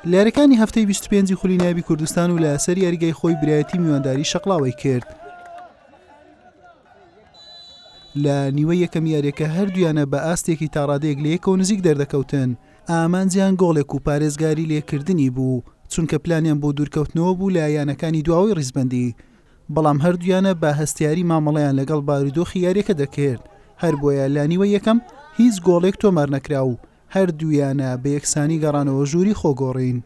لەیاریەکانی هەفتەی 25 خولی نابی کوردستان و لە سەر یاریگای خۆی برایەتی میوانداری شەقلاوی کرد لە نیوە یەکەم یاریەکە هەردویانە بە ئاستێکی تاڕادێک لەیەکەوە نزیک دەردەکەوتن ئامانجیان گۆڵێک و پارێزگاری لێکردنی بوو چونکە پلانیان بۆ دوورکەوتنەوە بوو لە یانەکانی دواوەی ڕیزبندی بەڵام هەردوویانە بە هەستیاری مامەڵەیان لەگەڵ بارودۆخی یاریەکە دەکرد، هەربۆیە لانیوەی یەکەم هیچ گۆڵێک تۆمار نەکرا و هەردوویانە بە یەکسانی گەڕانەوە ژووری خۆگۆڕین.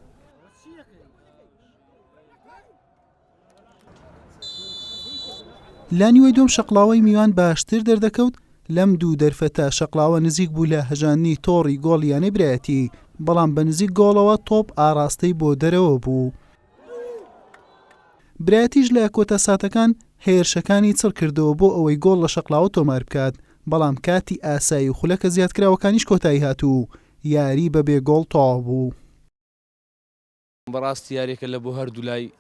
لانیوەی دووەم شەقڵاوەی میوان باشتر دەردەکەوت، لەم دوو دەرفەتە شەقڵاوە نزیک بوو لە هەژاندنی تۆڕی گۆڵ یانەی برایەتی، بەڵام بە نزیک گۆڵەوە تۆپ ئاڕاستەی بۆ دەرەوە بوو. برایتیش لە کۆتا ساتەکان هێرشەکانی چڕ کردەوە بۆ ئەوەی گۆڵ لە شەقڵاوە تۆمار بکات، بەڵام کاتی ئاسایی و خولەکە زیادکراوەکانیش کۆتایی هات و یاری بە بێ گۆڵ تەواو بوو. بەڕاستی یاریەکە لە بۆ هەردوولای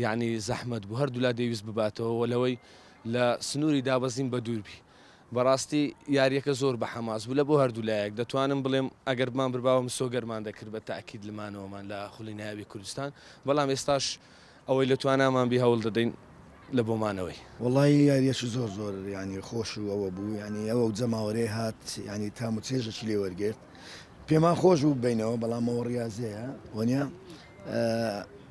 یانی زەحمەت بوو هەردوولا دەیویست بباتەوە و لەوەی لە سنووری دابەزین بەدوور بی. بەڕاستی یاریەکە زۆر بە حەماس بوو لە بۆ هەردوو لایەک دەتوانم بڵێم ئەگەر بمانبرباوە مسۆگەرمان دەکرد بە تاکید لمانەوەمان لە خولی نایابی کوردستان بەڵام ئێستاش ئەوەی لە توانامان بی هەوڵ دەدەین لە بۆ مانەوەی. وەڵایی یاریەکی زۆر زۆر یانی خۆش و ئەوە بوو یانی ئەو جەماوەرەی هات یانی تام و چێژەکی لێ وەرگرت پێمان خۆش بوو ببەینەوە بەڵام ئەوە ڕیازەیە وەنیە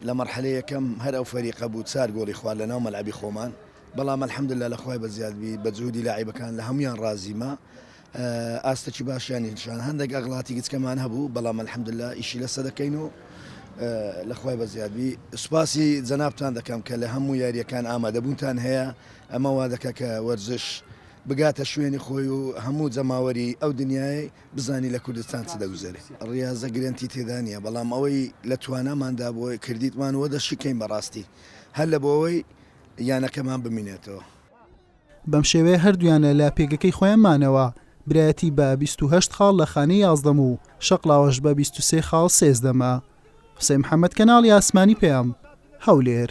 لە مەرحەلە یەکەم هەر ئەو فەریقە بوو چار گۆڵی خوارد لە ناو مەلعەبی خۆمان بەڵام الحمدللە لە خوای بەزیاد بی بە جهودی لاعیبەکان لە هەموویان ڕازیمە ئاستەکی باشیانی نیشان هەندێک ئەغڵاتی گچکەمان هەبوو بەڵام الحمدللە ئیشی لەسە دەکەین و لە خوای بەزیاد بی سوپاسی جەنابتان دەکەم کە لە هەموو یاریەکان ئامادەبوونتان هەیە ئەمە وا دەکە کە وەرزش بگاتە شوێنی خۆی و هەموو جەماوەری ئەو دنیای بزانی لە کوردستان چ دەگوزێری ڕاضە گرنتی تێدانە بەڵام ئەوەی لە تواناماندا بۆی کردیتمان وە دەشیکەین بەڕاستی هەر لە بۆەوەی یانەکەمان بمینێتەوە. بەم شێوەیە هەردوویانە لە پێگەکەی خۆیان مانەوە، برایەتی بە بیست و هەشت خاڵ لە خانەی یازدەم و شەقڵاوەش بە بیست و سێ خاڵ سێزدەمە. حوسەین محەمەد، کەناڵی ئاسمانی پەیام، هەولێر.